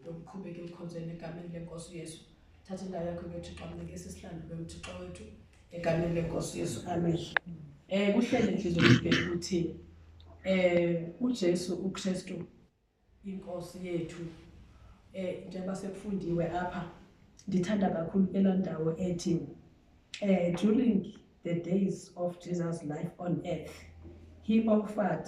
ndomqhubeke emkhonzweni egameni lenkosi uyesu thatha indawo yakho bethixo amnike sisihlanu ube mthixo wethu egameni lenkosi uyesu amen um kuhlele ntliziyo yokubheka ukuthi um ujesu ukristu inkosi yethu eh njengoba sekufundiwe apha ndithanda kakhulu kela ndawo ethi eh during the days of Jesus life on earth he offered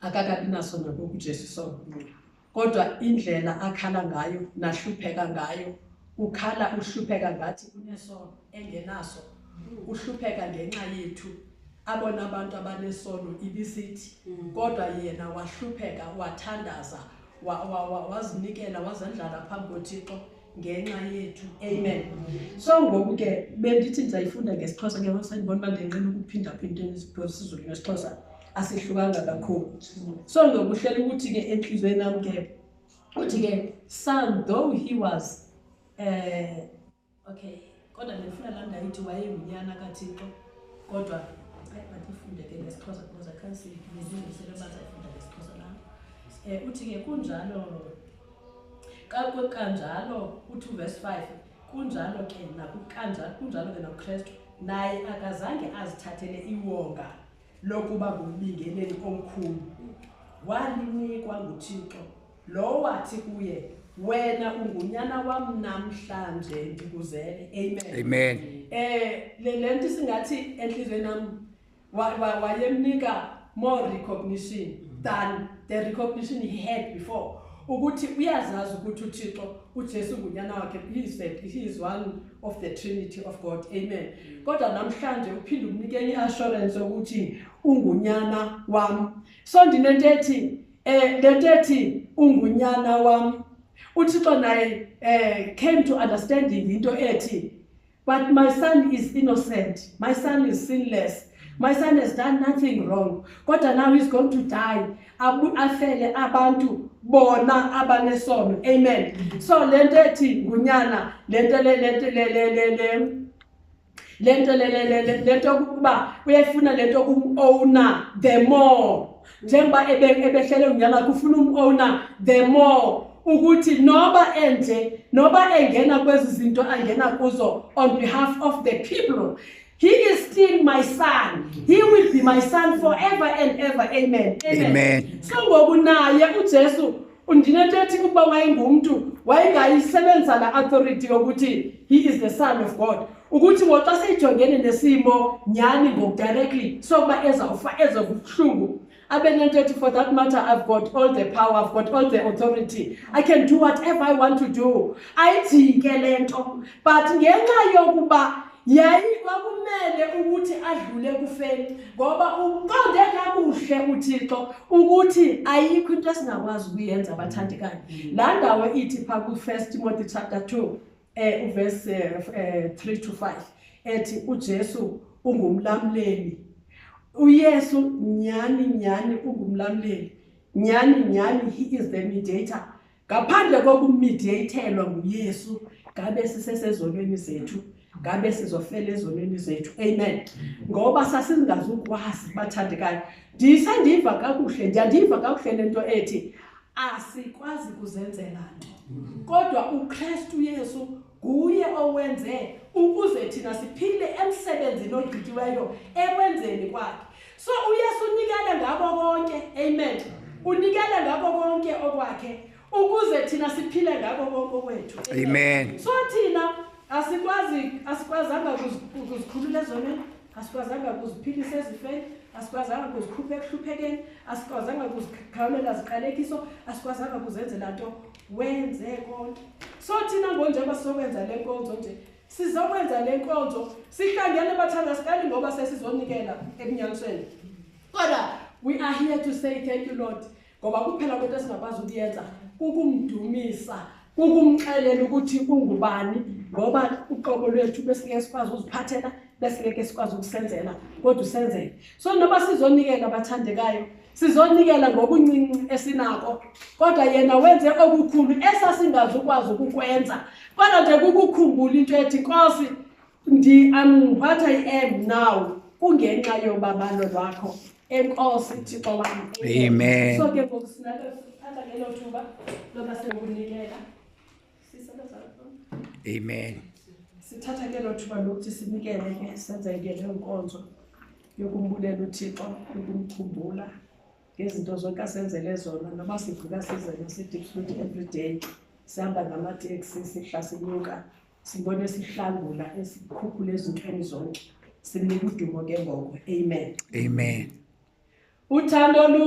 akakabi naso nangoku uJesu sombulula kodwa indlela akhala ngayo nahlupheka ngayo ukhala uhlupheka ngathi unesono engenaso uhlupheka ngenxa yethu abona abantu abanesono ibisithi mm. kodwa yena wahlupheka wathandaza wazinikela wazendlala phambi kothixo ngenxa yethu amen so ngoku ke bendithi ndizayifunda ngesixhosa ke sendibona uba ndinqina ukuphindaphinda isizulu nesixhosa asihlukanga kakhulu so ngokuhlela ukuthi ke entliziyweni nam ke uthi ke son though he was um okay kodwa ndifuna laa ndayithi wayengunyana kathixo kodwa ayi mandifunde ke ngesixhosa because i can't see nezindiselo bazayifunda ngesixhosa nam um eh, uthi ke kunjalo kanjalo uthi uvesi five kunjalo ke nakukanjalo kunjalo ke nakukrestu naye akazange azithathele iwonga lokuba ngumbingeleli omkhulu walinikwa nguthixo Lowo wathi kuye, wena ungunyana wam namhlanje ndikuzele. Amen. Amen. Eh le lento isingathi enhlizweni nam wa- wa- wayemnika more recognition than the recognition he had before. Ukuthi uyazazi ukuthi uThixo uJesu ngunyana wakhe he is the, he is one of the trinity of God. Amen. Kodwa namhlanje uphinde umnike enye assurance ukuthi ungunyana wam. So ndinento ethi Eh le nto ethi ungunyana wam uthixo naye eh came to understanding into ethi but my son is innocent my son is sinless my son has done nothing wrong kodwa now he's going to die afele abantu bona abanesono amen so le nto ethi ngunyana le nto le le nto le nto yokuba uyayifuna le nto kumowner the more njengoba ebehlele unyama kufuna umowner the more ukuthi noba enje noba engena kwezi zinto angena kuzo on behalf of the people He is still my son. He will be my son forever and ever. Amen. Amen. Amen. So ngokunaye uJesu undinento ethi ukuba wayengumntu wayengayisebenzisa la authority yokuthi he is the son of god ukuthi ngoxa seyijongene nesimo nyhani ngokudirectly sokuba ezawufa eze kubuhlungu abe nento ethi for that matter i've got all the power i've got all the authority i can do whatever i want to do ayijike le nto but ngenxa yokuba yayi kwakumele ukuthi adlule kufeni ngoba uqonde kakuhle uthixo ukuthi ayikho into esingakwazi ukuyenza abathandekayo mm. laa ndawo ithi phaa kwi-first timothy chapter two um eh, uvesi um eh, eh, three to five ethi ujesu ungumlamleli uyesu nyhani nyhani ungumlamleli nyhani nyhani he is the mediator ngaphandle kokumidiyeyithelwa nguyesu ngabe sisesezonweni zethu ngabe sizofela ezonweni zethu amen ngoba sasingazukwazi bathandekayo ndisandiva kakuhle ndiyandiva kakuhle le nto ethi asikwazi kuzenzela nto kodwa ukristu yesu nguye owenze ukuze thina siphile emsebenzini ogqityiweyo ekwenzeni kwakhe so uyesu unikele ngabo konke amen unikele ngabo konke okwakhe ukuze thina siphile ngabo konke okwethu amen so thina asikwazi asikwazanga ukuzikhulula ezoneni asikwazanga ukuziphilisa ezifeni asikwazanga kuzikhupha ekuhluphekeni asikwazanga kuzikhawulela ziqalekiso asikwazanga kuzenzela nto wenze konke so thina ngonjengoba sizokwenza le nkonzo nje sizokwenza le nkonzo sihlangene bathanda sikali ngoba sesizonikela ebunyanisweni kodwa we are here to say thank you lord ngoba kuphela kwento esingakwazi ukuyenza kukumdumisa kukumxelela ukuthi ungubani ngoba uqobo lwethu besingeke sikwazi uziphathela besingeke sikwazi ukusenzela kodwa usenzele so noba sizonikela abathandekayo sizonikela ngokuncinci esinako kodwa yena wenze okukhulu esasingazukwazi ukukwenza kodwa nje kukukhumbula into ethi nkosi what i am now kungenxa yobabalo lwakho enkosi thixo wam amen so ke ngoku sinalo thatha ngelo thuba loba sekunikela Amen. Sithatha ke lo thuba lokuthi sinikele ke senze ke le nkonzo yokumbulela uThixo ukumkhumbula ngezinto zonke asenzele zona noba sivuka sizele si-deep food every day sihamba ngamateksi sihla sinyuka sibone sihlangula esikhuphula ezintweni zonke simnika udumo ke ngoko amen Amen. uthando lu